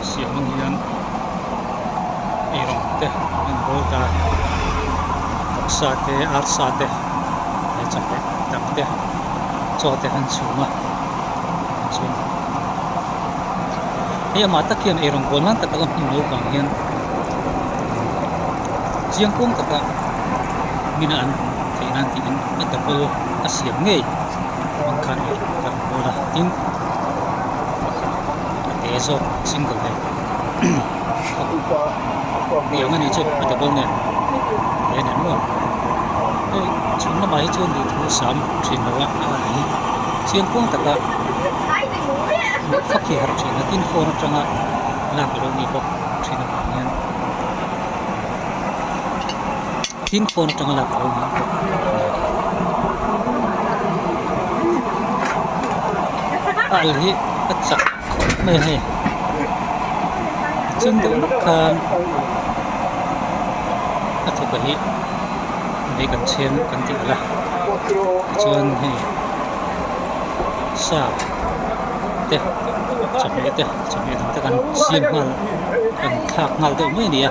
siamin hian eirawn te enkawl ta taksa te arsa te leh chawhmeh dang te chaw te an chhung a chuan hei amah tak hian eirawn kual nan tak alo hmun naupang hian chiang kawng taka min a an theih nan tih in a double a siam ngei a rawn khan a rawn kual a tin pakhat-- A te zawk single he ni ang a nih chu a double nen a en em lo hei chhun lamah hi chuan lirthei a sam thin lo a a nih hi chiang kuang tak a luh fak hi a harh thin a tin phone atanga lak a lo ni bawk thin a pawh hian. Thlin pawn atang lak a awm bawk a ni. Bal hi a chak khawp mai a ni. Chin deuh hlek khan a thu pali vei kan chhem kan tih hala. Tichuan hei sa te chawhmeh te chawhmeh dang te kan siam nghal kan thlak nghal deuh mai a ni a.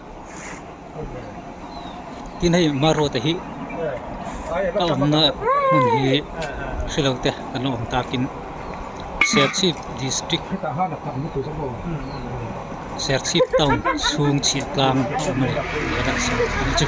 tin hei hmarhaw te hi a awmna hmun hi hrilo te kan lo awm takin serchhip district serchhip town chhung chhia tlang a awm a ni tihka chhi a ni chu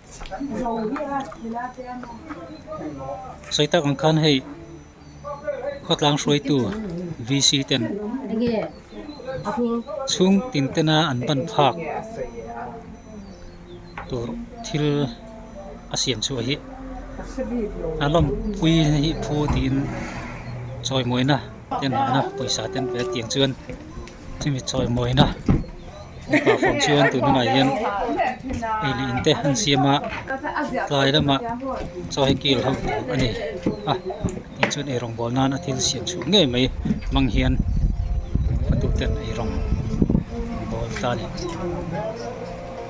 Sawi tak ang khan hei khawtlang hruaitu VC ten chhung tin tena an ban phak tur thil a siam chhuah hi a lawmpui hi phu tiin chawimawina te nahna pawisa ten kan tiang chuan. chumi chawimawina mipa phone chuan tun hunah hian ei lih in te an siam a tlai lama chaw hi kil ho tur a ni a tin chuan ei rawngbawl nan a thil siam chhuah ngei mai hmang hian ka duhten ei rawng bawl ta a ni.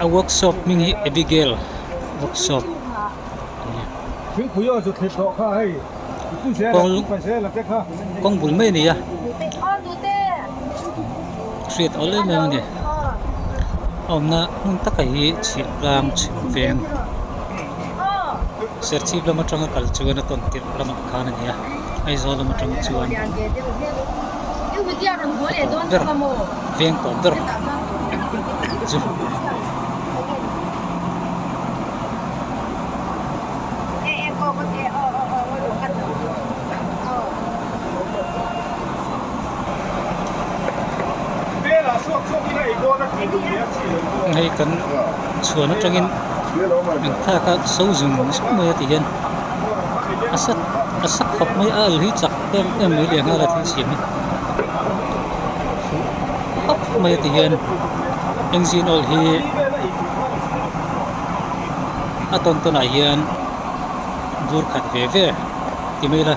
a workshop hming hi abigail workshop a ni kawng kawng bul mai a ni a. hriat awl em em a ni a awmna hmun takah hi chhip vang chhim veng serchhip lam atanga kal chuan a tawn tirh lamah khan a ni a aizawl lam atang chuan tawh ber veng tawh ber chu -- hei kan chhuan atangin min thlak a sozin ni sup mai a ti hian a sa a sa khawp mai a alu hi chak em em mai leh nghal a thil siam hi fuh hap mai a ti hian engine awl hi a tawn tawn ah hian bur khat ve ve ti mai ila.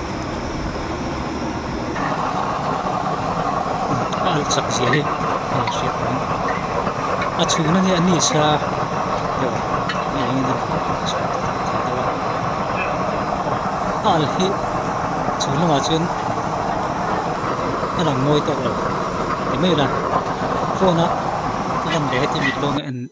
a chak zia hi hei a hriat reng a chhun a nge a ni sa hei hei engin a rawn a chhuah ta tak theih deuh a al hi chhun lamah chuan a rawn ngawi tawh lo ti mai la phone a a lan leh hi chu mitlawnga en--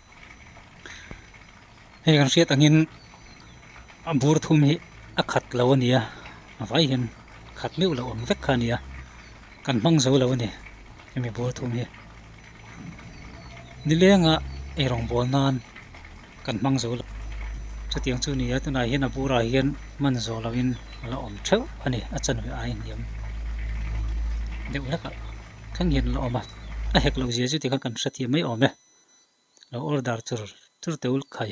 hei kan hriat angin a bur thum hi a khat lo a ni a a vai hian khat meuh loh ang vek kha a ni a kan hmang zo lo a ni hemi bur thum hi ni lenga ei rawngbâwl nân kan hmang zo lo chutiang chu a ni a tunah hian a burah hian man zawh lovin a la awm theuh a ni a chanve aiin a ni ang deuh hlek a. kha nghen la awm a a hek loh zia chu tikhan kan hrethiam mai awm e lo order tur tur te ulhkhai.